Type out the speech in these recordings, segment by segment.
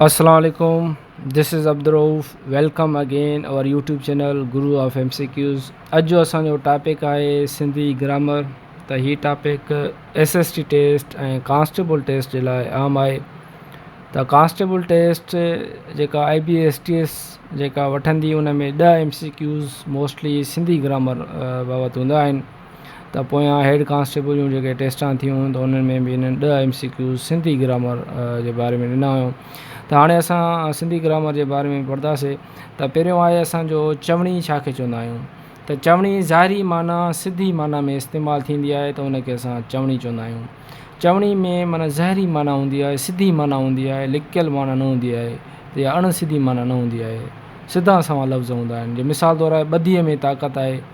اسلام عليڪم this is Abdul Rauf welcome again our YouTube channel guru of M C Qs اڄ جو اسانجو ٽاپڪ آهي سنڌي گرامر ته هي topic S S T test ۽ constable test جي لاء اهم آهي ته ڪانسٽيبل ٽيسٽ جيڪا I B S T S جيڪا وٺندي ان ۾ ڏهه M C Qs mostly Sindhi grammar بابت هوندا آهن ته پويان هيڊ ڪانسٽيبل جون جيڪي ٽيسٽان ٿيون هيون ته انهن ۾ به هنن ڏهه M C Qs Sindhi grammar جي باري ۾ ڏنا هيون ته هاڻي اسان سنڌي گرامر جي باري ۾ پڙهنداسي ته پهريون آهي اسانجو چوڻي ڇا کي چوندا آهيون ته چوڻي ظاهري معنيٰ سڌي معنيٰ ۾ استعمال ٿيندي آهي ته ان کي اسان چوڻي چوندا آهيون چوڻي ۾ معنيٰ ظاهري معنيٰ هوندي آهي سڌي معنيٰ هوندي آهي لڪيل معنيٰ نه هوندي آهي ته اڻ سڌي معنيٰ نه هوندي آهي سڌا سنئون لفظ هوندا آهن جي مثال طور آهي ٻڌيء ۾ طاقت آهي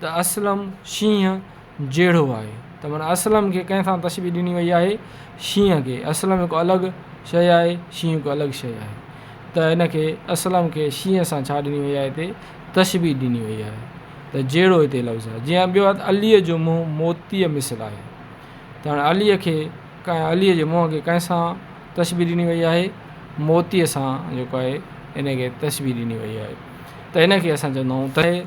ته اسلم شينهن جهڙو آهي ته معنيٰ اسلم کي ڪنهن سان تشبيهه ڏني وئي آهي شينهن کي اسلم هڪ الڳ شيء آهي شينهن هڪ الڳ شيء آهي ته هن کي اسلم کي شينهن سان ڇا ڏني وئي آهي هتي تشبيهه ڏني وئي آهي ته جهڙو هتي لفظ آهي جيئن ٻيو آهي عليء جو منهن موتيء مثل آهي ته هاڻي عليء کي ڪنهن عليء جي منهن کي ڪنهن سان تشبيهه ڏني وئي آهي موتيء سان جيڪو آهي ان کي تشبيهه ڏني وئي آهي ته ان کي اسان چوندا آهيون ته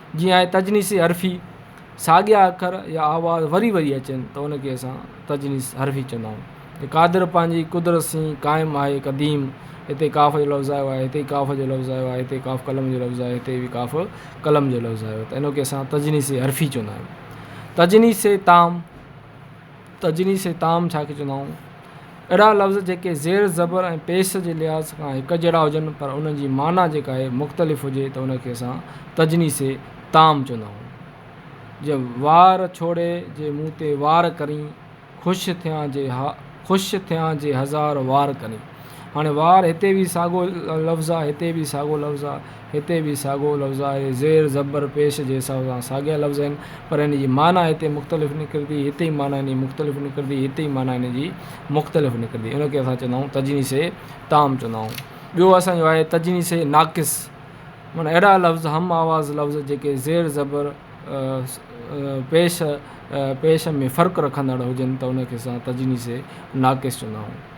جيئن آهي تجنيسي حرفي، ساڳيا اکر يا آواز وري وري اچن ته ان کي اسان تجنيس حرفي چوندا آهيون. قادر پنهنجي قدرت سين قائم آهي قديم، هتي قاف جو لفظ آيو آهي، هتي قاف جو لفظ آيو آهي، هتي قاف قلم جو لفظ آيو آهي، هتي به قاف قلم جو لفظ آيو آهي ته ان کي اسان تجنيسي حرفي چوندا آهيون. تجنيسي تام. تجري سي تام ڇا کي چوندا آهون؟ اهڙا لفظ جيڪي زير زبر ۽ پيس جي لحاظ کان هڪ جهڙا هجن پر انهن جي معنيٰ جيڪا آهي مختلف هجي ته ان کي اسان تجري سي تام چوندا آهون. جيئن وار ڇوڙي جي مون تي وار ڪرين، خوش ٿيان جي ها خوش ٿيان جي هزار وار ڪرين. هاڻي وار هتي به ساڳو لفظ آهي هتي به ساڳو لفظ آهي. هتي به ساڳئو لفظ آهي. زير، زبر، پيش جي حساب سان ساڳيا لفظ آهن، پر هن جي معنيٰ هتي مختلف نڪرندي، هتي ئي معنيٰ هن جي مختلف نڪرندي، هتي ئي معنيٰ هن جي مختلف نڪرندي. ان کي اسان چوندا آهيون تجنيس تام چوندا آهيون. ٻيو اسان جو آهي تجنيس ناقص، معنيٰ اهڙا لفظ، هم آواز لفظ، جيڪي زير، زبر، پيش، پيش ۾ فرق رکندڙ هجن ته ان کي اسان تجنيس ناقص چوندا آهيون.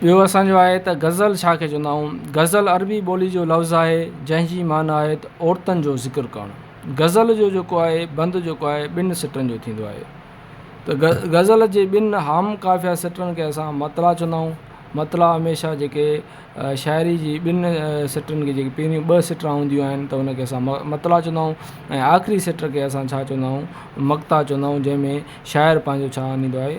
ٻيو اسان جو آهي ته غزل ڇا کي چوندا آهيون؟ غزل عربي ٻولي جو لفظ آهي جنهن جي معنيٰ آهي ته عورتن جو ذڪر ڪرڻ. غزل جو جيڪو آهي بند جيڪو آهي ٻن سٽن جو ٿيندو آهي ته غزل جي ٻن هام قافيه سٽن کي اسان مطلع چوندا آهيون. مطلع هميشه جيڪي شاعري جي ٻن سٽن کي جيڪي پهريون ٻه سٽا هونديون آهن ته ان کي اسان مطلع چوندا آهيون ۽ آخري سٽ کي اسان ڇا چوندا آهيون مقطع چوندا آهيون جنهن ۾ شاعر پنهنجو ڇا آنديندو آهي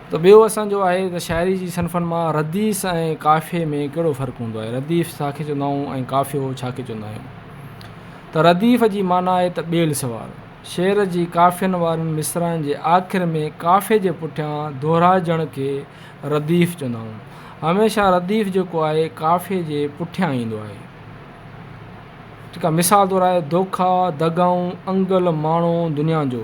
ته ٻيو اسان جو آهي ته شاعري جي صنفن مان رديف ۽ قافيي ۾ ڪهڙو فرق هوندو آهي رديف ڇا کي چوندا آهيون ۽ قافيو ڇا کي چوندا آهيون ته رديف جي معنيٰ آهي ته ٻيل سوار شعر جي قافين وارن مصرعن جي آخر ۾ قافيي جي پٺيان دهرائجڻ کي رديف چوندا آهيون هميشه رديف جيڪو آهي قافيي جي پٺيان ايندو آهي ٺيڪ آهي مثال طور آهي دوکا دغائون انگل ماڻو دنيا جو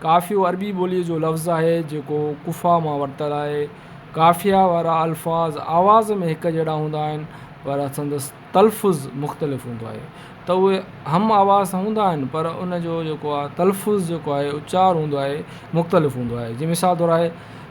قافيو عربي ٻوليء جو لفظ آهي، جيڪو قفا مان ورتل آهي. قافيه وارا الفاظ آواز ۾ هڪ جهڙا هوندا آهن، پر سندس تلفظ مختلف هوندو آهي. ته اهي هم آواز ته هوندا آهن، پر ان جو جيڪو آهي تلفظ جيڪو آهي اچار هوندو آهي، مختلف هوندو آهي. جيئن مثال طور آهي.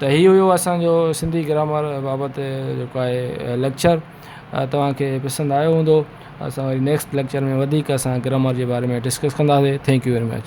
ته هي هيو اسان جو سنڌي گرامر بابت جيڪو آهي ليڪچر توهان کي پسند آيو هوندو اسان وري نيڪسٽ ليڪچر ۾ وڌيڪ اسان گرامر جي باري ۾ ڊسڪس ڪنداسي ٿينڪ يو ويري مچ.